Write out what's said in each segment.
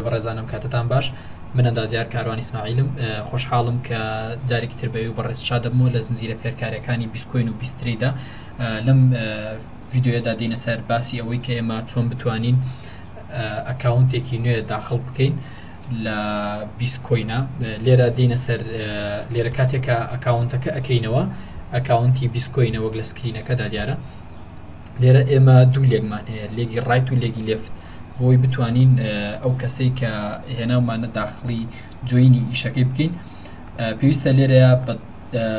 بەڕێزانم کاتتان باش من ئەندازیار کاروانی سماعیلم خۆشحاڵم کە جارێکی تر بەوی بەڕێز شادەمەوە لە زنجیرە فێرکارەکانی بیسکۆین و بیستریدا لەم ڤیددیوەدا دینە سەر باسی ئەوەی کە ئێمە چۆن بتوانین ئەکاونتێکی نوێ داخڵ بکەین لە بیست کۆینە لێرە دینە سەر لێرە کاتێکە ئەکاونتەکە ئەەکەینەوە ئەکاونتی بیست کۆینە وەک لە سکرینەکەدا دیارە لێرە ئێمە دوو لێکمان هەیە لێگی ڕایت و لێگی لفت بۆی بتوانین ئەو کەسەی کە هێناومانە داخلی جوینی ئیشەکەی بکەین پێویستە لێرە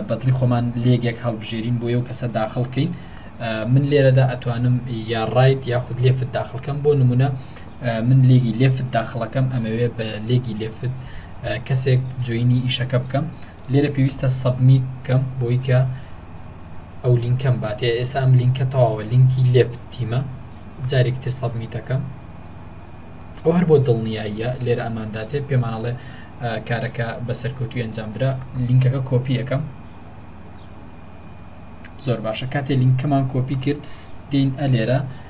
بەدڵی خۆمان لێگێک هەڵبژێرین بۆ یو کەسە داخل بکەین من لێرەدا ئەتوانم یا ڕایت یاخود لێفت داخلکەم بۆ نمونە من لێگی لێفت داخڵەکەم ئەمەوێ بە لێگی لێفت کەسێک جۆینی ئیشەکە بکەم لێرە پێویستە سەبمیت بکەم بۆی کە ئەو لینکەم باتێ ئێستا ئەم لینکە تەواوە لینکی لێفت تیمە جارێک تر سەبمیتەکەم ئەو هەر بۆ دڵنیاییە لێرە ئەمانداتێ پێمانەڵێ کارەکە بە سەرکەوتوی ئەنجام درا لینکەکە کۆپی یەکەم زۆر باشە کاتێ لینکەمان کۆپی کرد دین ئەلێرە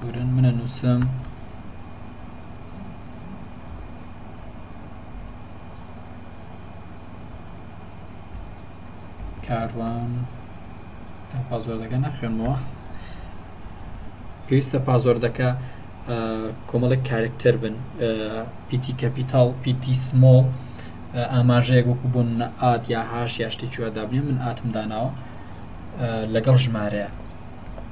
برن من نوسم کاروان پازۆردەکە ناخێنمەوە پێویستە پازۆردەکە کۆمەڵێک کارکتەر بن پیتی کەپیتال پیتی سمۆڵ ئاماژەیەک وەکو بۆ منە ئات یا هاش یا شتێکی وادابنێ من ئاتم داناوە لەگەڵ ژمارەیە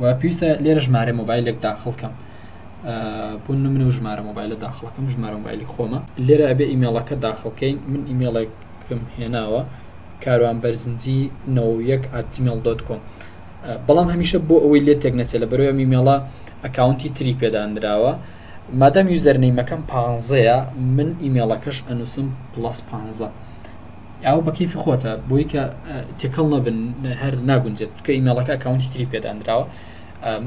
و پێویستە لێرە ژمارە مۆبایلێک داخڵ کەم بۆ نمونە و ژمارە مۆبایلە داخڵەکەم ژمارە مۆبایلی خۆمە لێرە ئەبێ ئیمێڵەکە داخڵکەین من ئیمێڵێکم هێناوە کاروان بەرزنجی نەوەک ئاتیمێڵ دۆت کۆم بەڵام هەمیشە بۆ ئەوەی لێ تێک نەچێت لە بەرەوە میمێڵە ئەکاونتی تری پێدانراوە مادەم یوزەرنەیمەکەم پانزەیە من ئیمێڵەکەش ئەنووسم پلس پانزە ئەوە بە کەیفی خۆتە بۆی کە تێکەڵ نەبن هەر ناگونجێت چکە ئیمێڵەکە ئەکاونتی تری پێدانراوە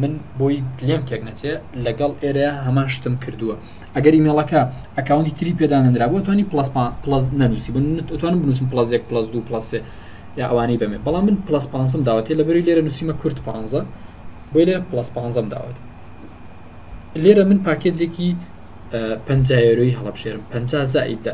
من بۆی لێم تێک نەچێ لەگەڵ ئێرە هەمان شتم کردووە ئەگەر ئیمێڵەکە ئەکاونتی تری پێدانەنرا بۆ توانی پلس پلس نەنووسی بن توانم بنووسم پلس یەک پلس دو پلسێ یا ئەوانەی بەمێ بەڵام من پلس پانسم داوەتێ لە بەری لێرە نووسیمە کورت پانزە بۆی لێرە پلس پانزەم داوەت لێرە من پاکێجێکی پەنجایەرۆی هەڵبژێرم پەنج زائیددا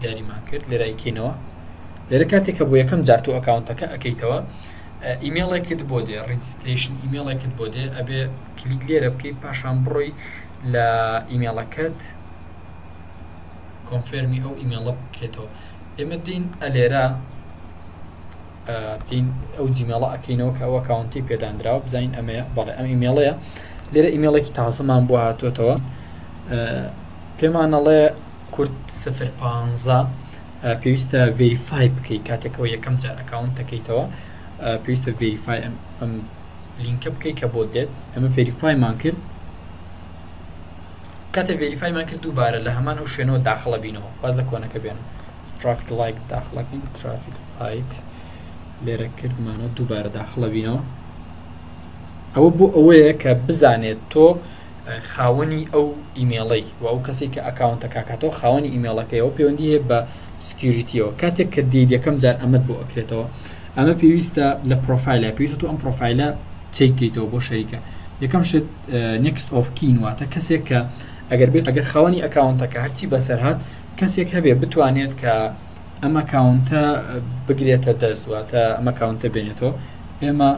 دیاریمان کرد لێرای کەینەوە لێرە کاتێک کە بۆ یەکەم جار تۆ ئەکاونتەکە ئەەکەیتەوە ئیمێڵێکت بۆ دێ ڕیجستریشن ئیمێڵێکت بۆ دێ ئەبێ کلیک لێرە بکەیت پاشان بڕۆی لە ئیمێڵەکەت کۆنفێرمی ئەو ئیمێڵە بکرێتەوە ئێمە دین ئەلێرا دین ئەو جیمێڵە ئەکەینەوە کە ئەوە کاونتی پێدانراوە بزانین ئەمە بەڵێ ئەم ئیمێڵەیە لێرە ئیمێڵێکی تازەمان بۆ هاتوێتەوە پێمانەڵێ کورد سفر پانزە پێویستە ڤێریفای بکەیت کاتێکەوە یەکەم جار ئەکاونت دەکەیتەوە پێویستە ڤێریفای ئەم لینکە بکەیت کە بۆ دێت ئەمە ڤێریفایمان کرد کاتێ ڤێریفایمان کرد دووبارە لە هەمان ئەو شوێنەوە داخڵە بینەوە باز لە کۆنەکە بێن ترافیک لایک داخڵەکەین ترافیک لایک لێرە کردمانەوە دووبارە داخڵە بینەوە ئەوە بۆ ئەوەیە کە بزانێت تۆ خاوەنی ئەو ئیمێڵەی و ئەو کەسی کە ئەکاونتە کاکاتەوە خاوەنی ئیمێڵەکەیەوە پەیوەندی هەیە بە سکیوریتیەوە کاتێک کە دێت یەکەم جار ئەمەد بۆ ئەکرێتەوە ئەمە پێویستە لە پرۆفایلە پێویست تۆ ئەم پرۆفایلە چیکەیتەوە بۆ شەریکە یەکەم شت نکست ئۆف کین واتە کەسێک کە ئەگەر بێت ئەگەر خاوەنی ئەکاونتەکە هەرچی بەسەر هاات کەسێک هەبێ بتوانێت کە ئەم ئەکاونتە بگرێتە دەست واتە ئەم ئەکاونتە بێنێتەوە ئێمە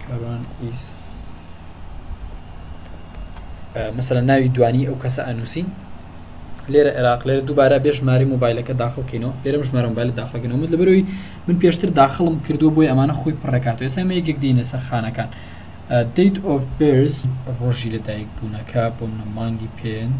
کاروان ئیس مەسەرە ناوی دوانی ئەو کەسە ئەنووسین لێرە عێراق لێرە دووبارە بێ ژماری موبایلەکە داخڵکەینەوە لێرەم ژمارە موبایل داخڵکەنەوە من لەبەرەوەی من پێشتر داخڵم کردو بۆی ئەمانە خۆی پڕکاتەوە ئێستا مە یەکێک دینە سەرخانەکان دیت ئۆف برس ڕۆژی لەدایک بوونەکە بۆ منە مانگی پێنج.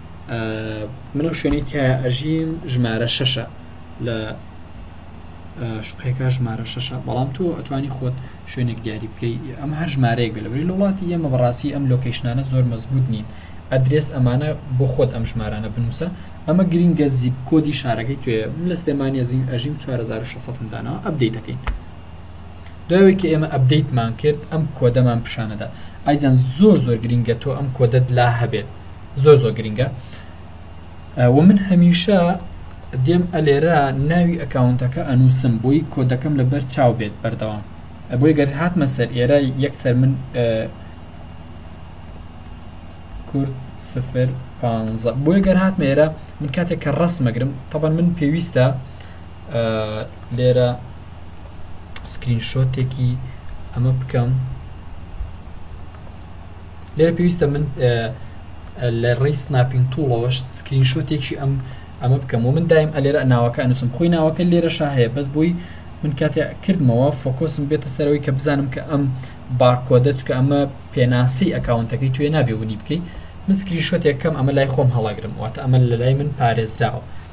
منم شوێنی تایە ئەژیم ژمارە شەشە لە شقەکە ژمارە شەشە بەڵام تۆ ئەتوانی خۆت شوێنێک دیاری بکەی ئەم هەر ژمارەیەک بێ لەبری لە وڵاتی ئێمە بەڕاستی ئەم لۆکەیشنانە زۆر مەزبوط نین ئەدرێس ئەمانە بۆ خۆت ئەم ژمارانە بنووسە ئەمە گرینگە زیب کۆدی شارەکەی توێ لە سلێمانە زیین ئەژیم 4600 داناوە ئەبدەی دەکەین دوای کە ئێمە ئەبدەیتمان کرد ئەم کۆدەمان پیششانەدا ئایزان زۆر زۆر گرینگە تۆ ئەم کۆدەت لا هەبێت زۆر زۆر گرنگە و من هەمیشە دێم ئەلێرە ناوی ئەکاونتەکە ئەنووسم بۆی کۆدەکەم لەبەر چاو بێت بەردەوام بۆی گەر هاتمە سەر ئێرە یەکسەر من کورد سفر پ بۆی گەر هات مێرە من کاتێک کە ڕستمەگرم تەبەن من پێویستە لێرە سکرین شۆتێکی ئەمە بکەم لێرە پێویستە من لە ڕێی سناپین توڵەوەش سکرین شوتێکی ئەم ئەمە بکەم و من دایم ئەلێرە ناوەکە نووسم خۆی ناوەکە لێرە شا هەیە بەس بووی من کاتێ کردمەوە فۆکۆسم بێتە سەرەوەی کە بزانم کە ئەم بارکۆدە چکە ئەمە پێناسی ئەکاونتەکەی توێ نابێ ونی بکەیت من سکرین شوتێکەکەم ئەمە لای خۆم هەڵاگرم واتە ئەمە لە لای من پارێزراوە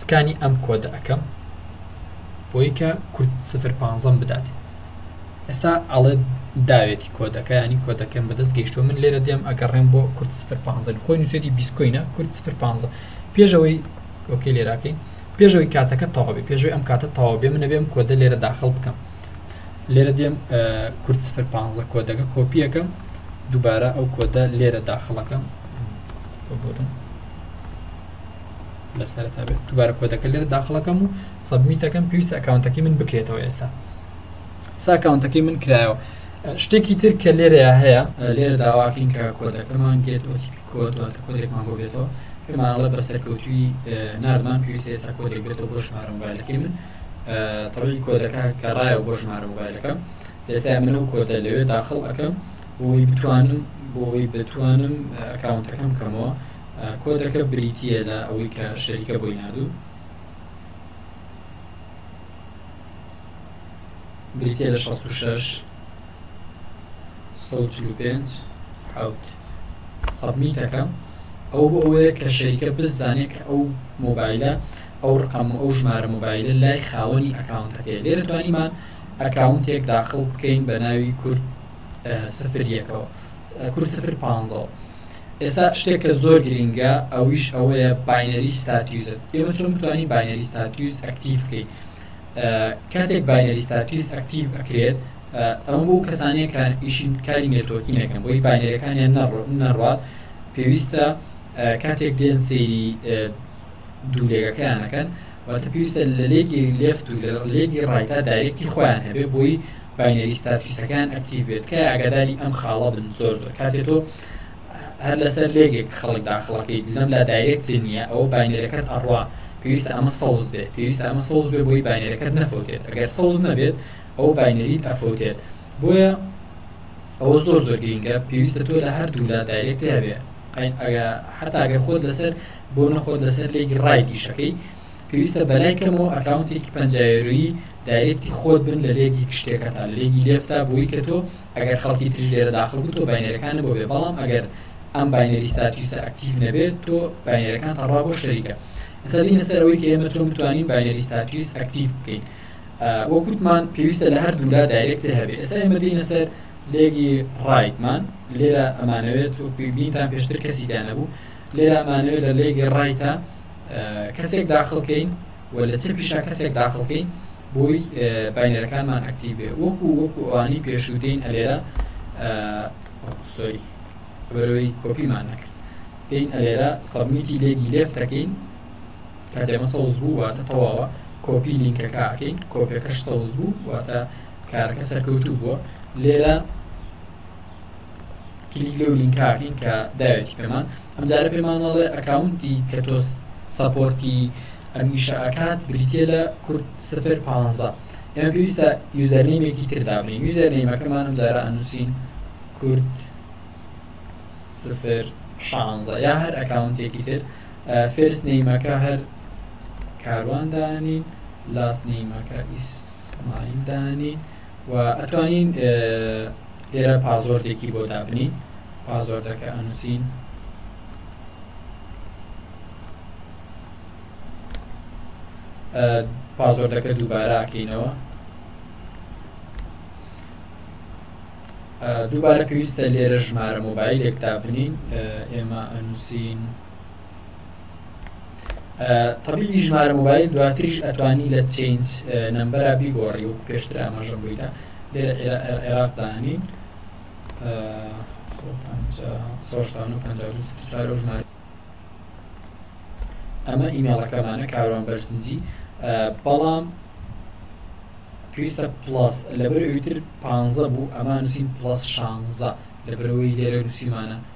سکانی ئەم کۆدە ئەکەم بۆی کە کورد سفر پانزەم بدات ئێستا ئەڵێ داوێتی کۆدەکە ینی کۆدەکەم بەدەست گەیشتو من لێرە دێم ئەگەڕێم بۆ کورد سفر پانزە خۆی نووسێتی بیسکۆینە کورد سفر پانزە پێشەوەی ئۆکەی لێراکەین پێشەوەی کاتەکە تەواوی پێشوی ئەم کاتە تەواو بێ منە بێم کۆدە لێرە داخل بکەم لێرە دێم کورد سفر پانزە کۆدەکە کۆپیەکەم دووبارە ئەو کۆدە لێرە داخڵەکەم ببورن لە سەرتا بێت دوبارە کۆدەکە لێرە داخڵەکەم و سەبمیتەکەم پێویستە ئەکاونتەکەی من بکرێتەوە ئێستا ساکاونتەکەی من کرایەوە شتێکی تر کە لێرەیە هەیە لێرە داواکەین کە کۆدەکەمان گێت ئۆتیپی کۆدواتە کۆدێکمان بۆ بێتەوە پێمانڵە بە سەرکەوتوی نارمان پێویستە ئێستا کۆدێک بێتەوە بۆ ژمارە موبایلەکەی من تەوی کۆدەکە کەڕایە بۆ ژمارە موبایلەکە ئێستا من ئەو کۆدە لەوێ داخڵ ئەەکەم بۆی بتوانم بۆی بتوانم ئەکاونتەکەم کەمەوە کۆدەکە بریتییە لە ئەوەی کە شەریکە بۆی ناردوون بریتە لە 66 5 حوت سەبمی دەکەم ئەو بۆ ئەوەیە کە شەریکە بزانێت کە ئەو مۆبایلە ئەو ڕقم و ئەو ژمارە مۆبایلە لای خاوەنی ئەکاونتەکەی لێرە توانیمان ئەکاونتێک داخڵ بکەین بە ناوی کورد سفریەکەەوە کورد سفر پانزە ئێستا شتێک کە زۆر گرنگە ئەویش ئەوەیە باینەری ستاتیوزت ئێمە چۆن بتوانین باینەری ستاتیوز ئەکتیف بکەیت کاتێک باینەری ستاتیوز ئەکتیف ئەکرێت ئەم بۆ کەسانەیە کە ئیشین کاری نێتۆکی نەکەن بۆی باینەرەکانیان نەڕات پێویستە کاتێک دێن سێری دوولێگەکەیانەکەن واتە پێویستە لە لێگی لێفت و لە لێگی ڕایتا دایرێکی خۆیان هەبێ بۆی باینەری ستاتوسەکەیان ئەکتیڤ بێت تکایە ئاگاداری ئەم خاڵە بن زۆر زۆر کاتێ تۆ هەر لەسەر لێگێک خەڵک داخڵەکەیت لەم لا دایرێک نییە ئەو باینەرەکەت ئەڕوا پێویستە ئەمە سەوز بێت پێویستە ئەمە سەوز بێ بۆی باینەرەکەت نەفوتێت ئەگەر سەوز نەبێت ئەو باینەریت ئەفوتێت بۆیە ئەوە زۆر زۆر گرینگە پێویستە تۆ لە هەردوو لا دایرێک دەبێت حتا گەر خۆت لەسەر بۆ نەخۆت لەسەر لێگی ڕایدیشەکەی پێویستە بەلای کەمەوە ئەکاونتێکی پەنجا یۆرۆیی دایرێکتی خۆت بن لە لێگی گشتیەکەتان لە لێگی لێفتا بۆی کە تۆ ئەگەر خەڵکی تریش لێرە داخل بوو تۆ باینەرەکان بۆ بێ بەڵام ئەگەر ئەم باینەری ستاتیوسە ئەکتیڤ نەبێت تۆ باینەرەکان تەڕا بۆ شەریکە ئەسا دینە سەر ئەوەی کە ئێمە چۆن بتوانین باینەری ستاتیوس ئەکتیڤ بکەین وەکوتمان پێویستە لە هەر دوولا دایرێکتە هەبێت ئێستا ئێمە دینە سەر لێگی ڕایتمان لێرە ئەمانەوێت وەکوی بینتان پێشتر کەسی دانەبوو لێرە ئەمانەوێت لە لێگی ڕایتە کەسێک داخل کەین و لە چەپیشا کەسێک داخل کەین بۆی باینەرەکانمان ئەکتیو بێ وەکو وەکو ئەوانی پێشوودین ئەلێرە سۆری بەرەوەی کۆپیمان نەکرد دین ئەلێرە سەبمیتی لێگی لێفتەکەین کە دێمە سەوز بوو واتە تەواوە کۆپی لینکەکەکەین کۆپیەکەش سەوز بوو واتە کارەکە سەرکەوتوو بووە لێرە کلیک لەو لینکاکەین کە داوێتی پێمان ئەمجارە پێمانەڵێ ئەکاونتی کە تۆ سەپۆرتی ئەمیشە ئەکات بریتە لە کورد سفر پ ئێمە پێویستە یوزەرنیمێکی تردابنین یوزەرنیمەکەمان ئەمجارە ئەنووسین کورد سفر شانزە یا هەر ئەکاونتێکی تر فێرس نەیمەکە هەر کاروان دانین لاست نەیمەکە ئیسماعیل دانین و ئەتوانین لێرە پازۆردێکی بۆ دابنین پازۆردەکە ئەنووسین پازۆردەکە دووباراکەینەوە دووبارە پێویستە لێرە ژمارە مۆبایلێک دابنین ئێمە ئەنووسین تەبیبی ژمارە مۆبایل دواتریش ئەتوانی لە چینج نمبەرا بیگۆڕی و پێشتر ئاماژەم بوویدا لێ عێراقدا هەنین ژمارە ئەمە ئیمێڵەکەمانە کاروان بەرزنجی بەڵام پێویستە پلاس لەبەر ئوتر پ بوو ئەمان نووسین پلاس شانزە لەبەرەوەی لێرە نووسیمانە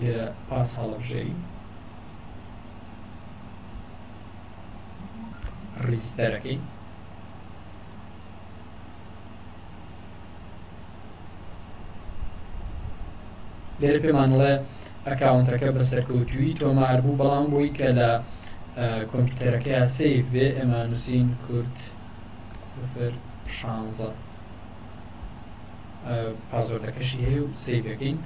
لێرە پاس هەڵەبژەری ڕیزدەرەکەی لێرە پێمانڵێ ئەکاونتەکە بە سەرکەوتوی تۆمار بوو بەڵام بۆی کە لە کۆمپیوتەرەکەی سیف بێ ئێمە نووسین کورد سفر شانزە پازۆردەکەشی هەیە و سیفەکەین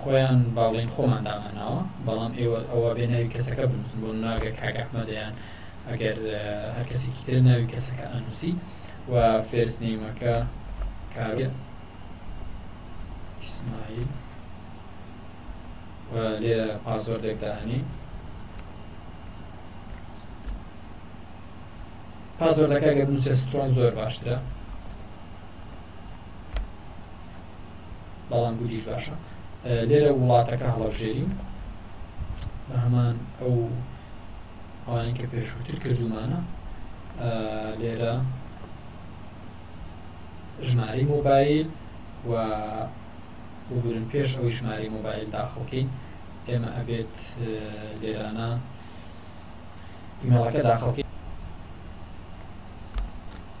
خۆیان با بڵێین خۆمان دامانناوە بەڵام ئێوە ئەوە بێ ناوی کەسەکە بنووسن بۆ ناگە کاک ئەحمەدیان ئەگەر هەر کەسێکی تر ناوی کەسەکە ئەنووسی و فێرست نیمەکە کاوێ ئیسماعیل لێرە پاسۆردێک داهێنین پاسۆردەکە گەر نووسێ سترۆن زۆر باشترە بەڵام گولیش باشە لێرە وڵاتەکە هەڵەبژێرین بە هەمان ئەو ئەوانی کە پێشووتر کردومانە لێرە ژماری مۆبایل و بگورن پێش ئەوی ژماری مۆبایل داخڵکەین ئێمە ئەبێت لێرانە ئیمەڵەکە داخڵکەین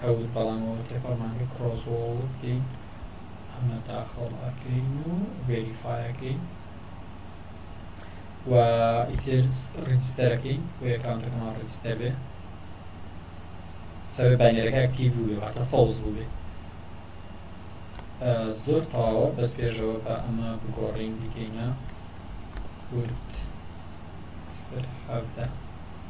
حەوت بەڵامەوە تێپەڕمانگە کڕۆزۆڵ بکەین ئەمە داخڵ ئەکەین و ڤێریفاەکەین و ئیتر ڕیستەرەکەین و ئەکانتەکەمان ڕیستەر بێ سەبێ باینەرەکە ئەکتیڤ بووێ واتە سەوز بووێ زۆر تاوە بەس پێشەوە بە ئەمە بگۆڕین بکەینە کورد سفر حەفتە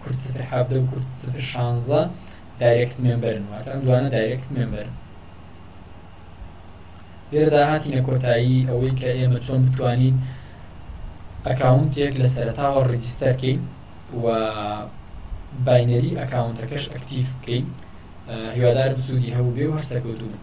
کورد سفر حەڤدە و کورد سفر شانزە دایرێکت مێمبەرن واتە ئەم دوانە دایرێکت مێمبەرن لێرەدا هاتینە کۆتایی ئەوەی کە ئێمە چۆن بتوانین ئەکاونتێک لە سەرتاوە ڕجیستەرکەین و باینەری ئەکاونتەکەش ئەکتیف بکەین هیوادارم سوودی هەبوو بێ و هەر سەرکەوتوو بن